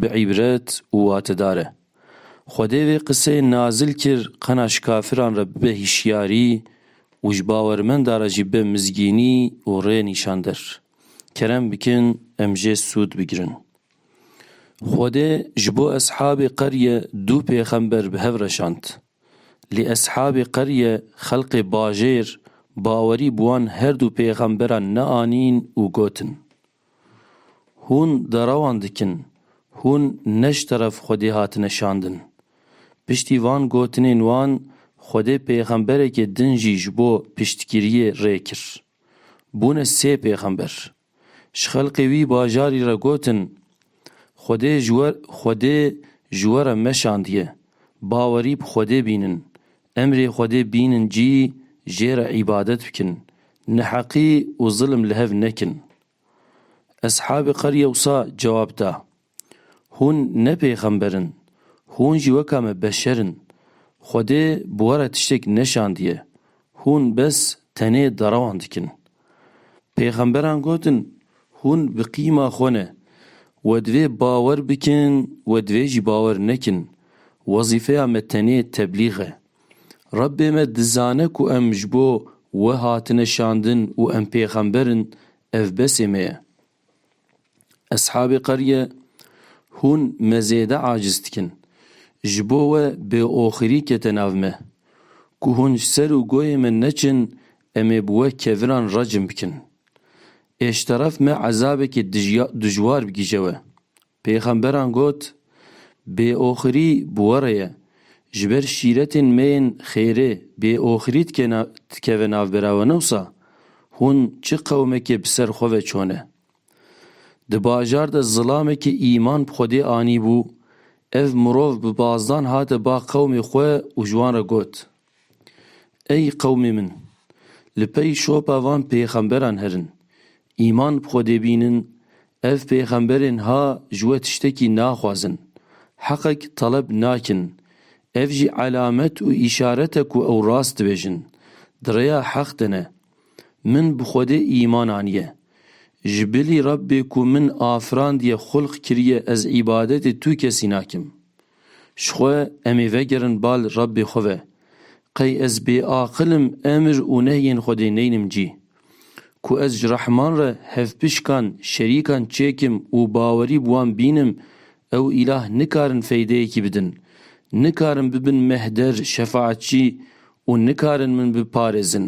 Bi îbret û watedar e. Xwedê vê qiseyê nazil kir qena ji kafiran re bibe hîşyarî û ji bawermenda re jî be mizgînî û rê nîşander. Kerem bikin em jê sûd bigirin. Xwedê ji bo eshabê qerye du pêxember bi hev reşand. Lê eshabê qerye xelqê bajêr bawerî bi wan herdu pêxemberan neanîn û gotin, Hûn derewan dikin, hûn ne ji teref Xwedê hatine şandin. Piştî van gotinên wan Xwedê pêxemberekê din jî ji bo piştgiriyê rê kir. Bûne sê pêxember. Ji xelkê wî bajarî re gotin, Xwedê ji we Xwedê ji we re meşandiye, bawerî bi Xwedê bînin, Emrê Xwedê bînin cî jê re îbadet bikin, neheqî û zilm li hev nekin. Eshabê Qerye wisa cewab da, Hûn ne pêxember in, hûn jî weka me beşer in. Xwedê bi we re tiştek neşandiye, hûn bes tenê derewan dikin. Pêxemberan gotin, Hûn bi qîma xwe ne. We divê bawer bikin, we divê jî bawer nekin. Wezîfeya me tenê teblîg e. Rebbê me dizane ku em ji bo We hatine şandin û em pêxember in, ev besê me ye. Eshabê Qerye, Hûn me zêde aciz dikin. Ji bo we bêoxirî kete nav me. Ku hûn ji ser û goyê me neçin em ê bi we keviran recm bikin. Êşteref me ezabekî dijwar bigihje we. Pêxemberan got, Bêoxirî bi we re ye. Ji ber şîretên me yên xêrê bêoxirî dikeve navbera we newsa hûn çi qewmekê bi ser xwe ve çone. Di bajar de zilamekê îman bi Xwedê anîbû, ev mirov bi bazdan hate ba qewmê xwe û ji wan re got, Ey qewmê min! Li pey şopa van pêxemberan herin, îman bi Xwedê bînin, ev pêxemberên ha ji we tiştekî naxwazin, heqek teleb nakin, ev jî elamet û îşaret e ku ew rast dibêjin, di rêya heq de ne. Min bi Xwedê îman aniye. Ji bilî Rebbê ku min afirandiye xulq kiriye ez îbadetê tu kesî nakim. Ji xwe em ê vegerin bal Rebbê xwe ve. Qey ez bêaqil im emir û nehyên Xwedê neynim cî? Ku ez ji rehman re hevpişkan, şerîkan çêkim û bawerî bi wan bînim, ew îlah nikarin feydeyekî bidin, nikarin bibin mehder, şefaetçî û nikarin min biparêzin.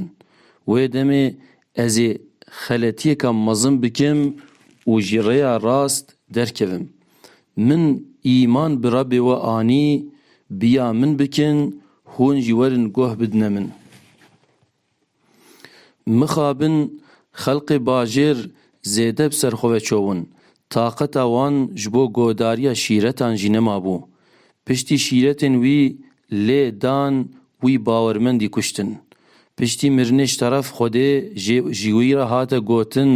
Wê demê Ez ê xeletiyeka mezin bikim û ji rêya rast derkevim. Min îman bi Rebê we anî, bi ya min bikin, hûn jî werin guh bidine min. Mixabin xelqê bajêr zêde bi ser xwe ve çewin, Taqeta wan ji bo godariya şîretan jî nemabû. Piştî şîretên wî lê dan wî bawermendî kuştin. Piştî mirinê ji teref Xwedê jê ji wî re hate gotin,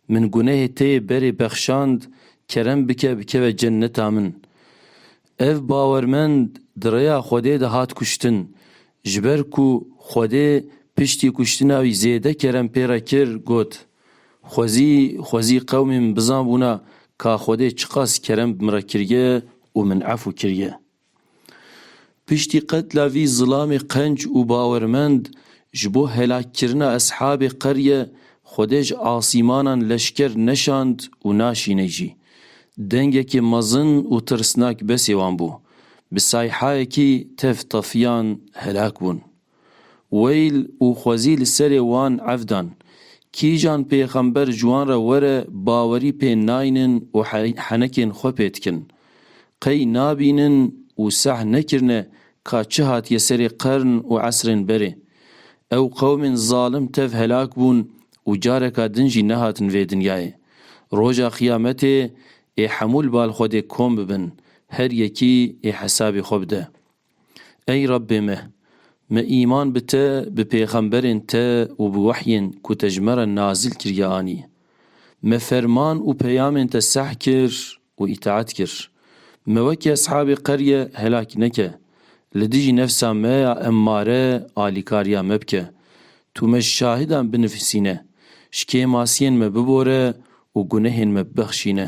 Min gunehê te yê berê bexşand, kerem bike bikeve cenneta min. Ev bawermend di rêya Xwedê de hat kuştin. Ji ber ku Xwedê piştî kuştina wî zêde kerem pê re kir, got. Xwezî xwezî qewmê min bizanbûna ka Xwedê çiqas kerem bi min re kiriye û min efû kiriye. Piştî qetla vî zilamê qenc û bawermend ji bo helakkirina eshabê qerye Xwedê ji asîmanan leşker neşand û naşîney jî. Dengekê mezin û tirsnak besê wan bû. Bi sayhayekî tev tefiyan helak bûn. Weyl û xwezî li serê wan ev dan, kîjan pêxember ji wan re were bawerî pê naynin û henekên xwe pê dikin. Qey nabînin û seh nekirine ka çi hatiye serê qern û esrên berê. Ew qewmên zalim tev helak bûn û careka din jî nehatin vê dinyayê. Roja qiyametê ê hemû li bal xwe dê kom bibin, her yekî ê hesabê xwe bide. Ey Rabbê me! Me îman bi te, bi pêxemberên te û bi wehyên ku te ji me re nazil kiriye anî. Me ferman û peyamên te seh kir û îtaet kir. Me wekî eshabê qerye helak neke. Li dijî nefsa me ya emmare alîkariya me bike. Tu me ji şahidan binivîsîne. Ji kêmasiyên me bibore û gunehên me bibexşîne.